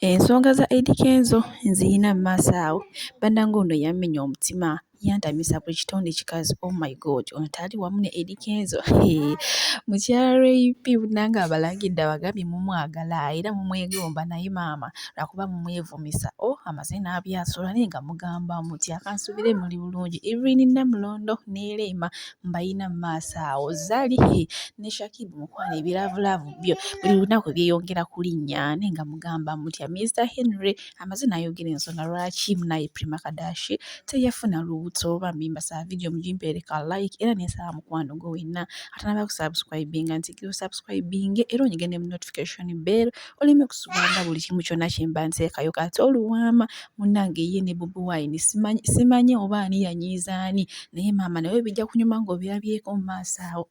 Ensonga za Eddy Kenzo nziyina mu maaso awo. Bannange ono yammenya omutima yantamisa buli kitonde kikazi oh my god ono taali wamu ne Eddy Kenzo mukyala RAP nange abalagidde abagambye mumwagala era mumwegomba naye maama lwakuba mumwevumisa o oh, amaze n'abyasula naye nga mugamba muti akansuubire muli bulungi Irene Namulondo ne Rema mbayina mu maaso awo zali ne shakibu mukwano ebiraavulaavu byo buli lunaku byeyongera kulinnya naye nga mugamba mutya mr henry amaze nayogera ensonga lwaki munaye prima kadashi teyafuna lubuto oba mimba saa vidiyo mugimpeereka like era nesaba mukwano gwe wenna atanaba kusubscribinga nti gwe subscribinge era onyige ne mu notification bell oleme kusubanga buli kimu kyonna kye mba nteekayo kati oluwaama munnange ye ne bobi wine simanyi oba ani yanyiiza ani naye maama nawe bijja kunyuma ng'obirabyeko mu maaso awo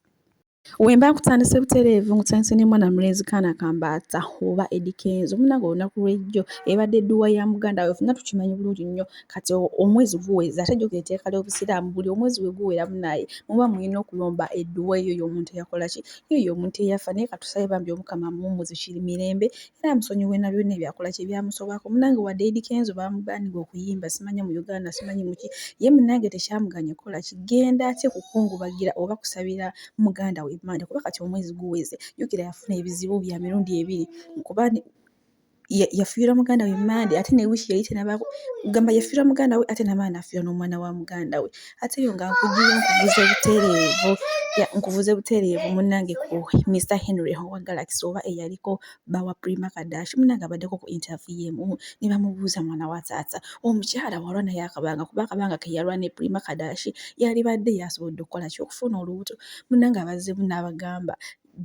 Wemba nkutandise butereevu nkutandise ne mwana mulenzi kaana kambaata oba Eddy Kenzo munnange olunaku lw'ejjo ebadde edduwa ya muganda we fenna tukimanyi bulungi nnyo kati omwezi guweza ate jjukira etteeka ly'Obusiraamu buli omwezi we guwera munaye muba mulina okulomba edduwa eyo y'omuntu eyakola ki yoyo omuntu eyafa naye katusabe bambi omukama amuwumuze kiri mirembe era amusonyiwe na byonna ebyakola kye byamusobako munange wadde Eddy Kenzo bamuganiga okuyimba simanya mu Uganda simanyi muki ye munange tekyamuganya kola kigenda atye kukungubagira oba kusabira muganda we manda kuba kati omwezi guweze yukira yafuna ebizibu bya mirundi ebiri kuba yafiirwa muganda we mande ate ne wiiki yali tenabako gamba yafiirwa muganda we ate namaana afiirwa n'omwana wa muganda we ate eyo nga nkugira nkubuze butereevu nkuvuze butereevu munnange ku Mr Henry Howard Galaxy oba eyaliko bawa Prima Kadashi munnange abaddeko ku interview emu ne bamubuuza mwana wa taata omukyala walwa naye akabanga kuba akabanga ke yalwa ne Prima Kadashi yalibadde yasobodde okukola ki okufuna olubuto munnange abazzemu n'abagamba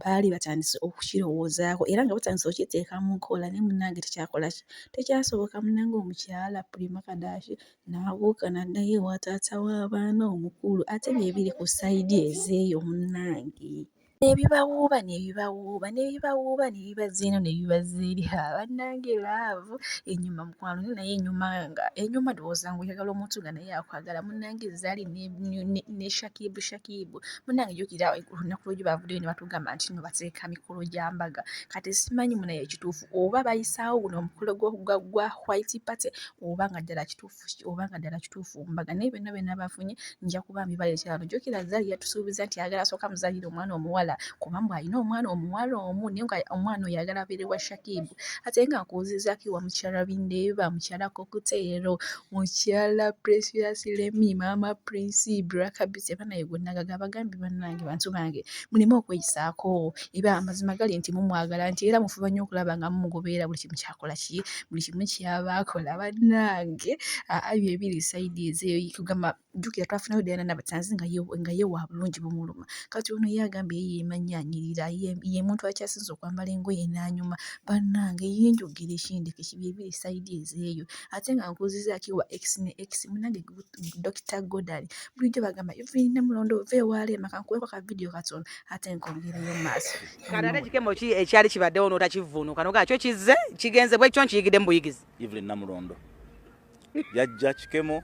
baali batandise okukirowoozaako era nga batandise okukiteeka mu nkola naye munnange tekyakola ki tekyasoboka munnange omukyala Prima Kadashi n'abuuka n'addayo ewa taata w'abaana omukulu ate bye biri ku sayidi ezeeyo munnange ne bibawuuba ne bibawuuba ne bibawuuba ne bibazza eno ne bibazza eri ha bannange laavu enyuma mukwano naye nayo enyuma nga enyuma ndowooza ng'oyagala omuntu nga naye akwagala munnange zzaali ne shakibu shakibu munange jukira olunaku lwojo bavuddeyo ne batugamba nti no bateeka mikolo gya mbaga kati simanyi munaye ekituufu oba bayisaawo guno omukolo gwa white party oba nga ddala kituufu oba nga ddala kituufu mbaga naye byonna byonna bafunye nja kuba mbibaleetera no jukira zali yatusuubiza nti ayagala asooka muzalire omwana omuwala kuba mbu alina omwana omuwala omu naye nga omwana oyo ayagala abeere wa shakibu ate nga nkuwuzizako ewa mukyala bindeeba mukyala kokuteero Mukyala Precious Lemi, Maama Prince, Black Beauty, banaye gwe nagaga abagambye bannange bantu bange muleme okweyisaako eba amazima gali nti mumwagala nti era mufuba nnyo okulaba nga mumugoberera buli kimu kyakola ki buli kimu kyaba akola bannange ebyo ebiri sayidi ezeyo kugamba jjukira twafunayo Diana Nabatanzi nga ye nga ye wa bulungi bumuluma kati ono ye agambye ye yemanyi anyirira ye muntu akyasinze okwambala engoye n'anyuma bannange ye njogera ekindeke kibyebiri sayidi ezeeyo ate nga nkuzizaaki wa x ne x munange Dokita Godali bulijjo bagamba Evelyn Namulondo ova ewaaleema kankuweeko ka vidiyo katono ate nkongereyo maaso kati ate kikemo ki ekyali kibaddewo n'otakivvuunuka nogaa kyo kizze kigenze bwekyo nkiyigidde mu buyigizi Evelyn Namulondo yajja kikemo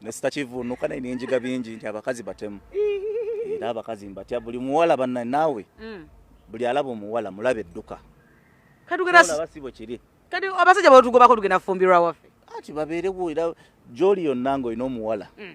ne sitakivunuka naye nenjiga bingi nti abakazi batemu era abakazi mbatya buli muwala banna naawe mm. buli alaba omuwala mulabe edduka katugeraabasibo kiri kati abasajja batugobako tugenda fumbirwa waffe ati babeerewo era gyoli yonna ngaolina omuwala mm.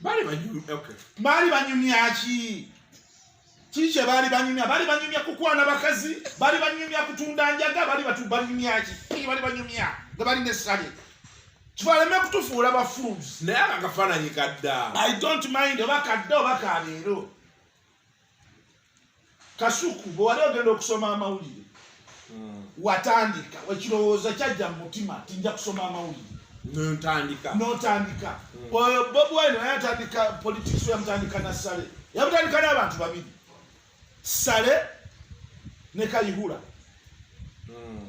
baali banyumya okay baali banyumya ki kikye baali banyumya baali banyumya kukwana bakazi baali banyumya kutunda njaga baali batu banyumya ki kiki baali banyumya nga bali ne sale kibaleme kutufuula ba fools naye akakafaananyi kadda i don't mind oba kadda oba kaleero kasuku bwewali ogenda okusoma amawulire hmm. watandika ekirowooza kyajja mu mutima ti nja kusoma amawulire notandika notandika hmm. oyo bob wine naye atandika politics yamutandika na sale yamutandika n'abantu babiri sale ne kayihura hmm.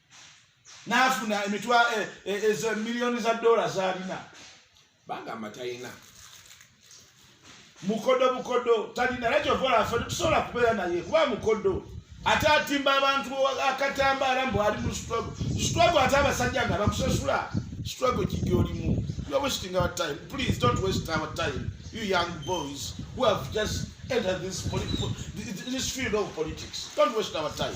n'afuna emitwa eh, eh, ezo miliyoni za doola z'alina bagamba talina mukodo bukodo talina era kyova olafa tetusobola kubeera naye kuba mukodo ate atimba abantu akatambaala mbu ali mu strugg strugg ate abasajja nga bakusasula strugg kigi olimu you are wasting our time please don't waste our time you young boys who have just entered this, this field of politics don't waste our time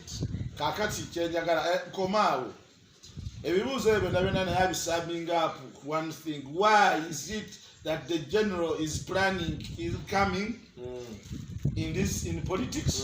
kakati kyenjagala eh, nkomaawo ebibuuzo ebyo byonna byonna naye abisumming up one thing why is it that the general is planning is coming mm. in this in politics mm.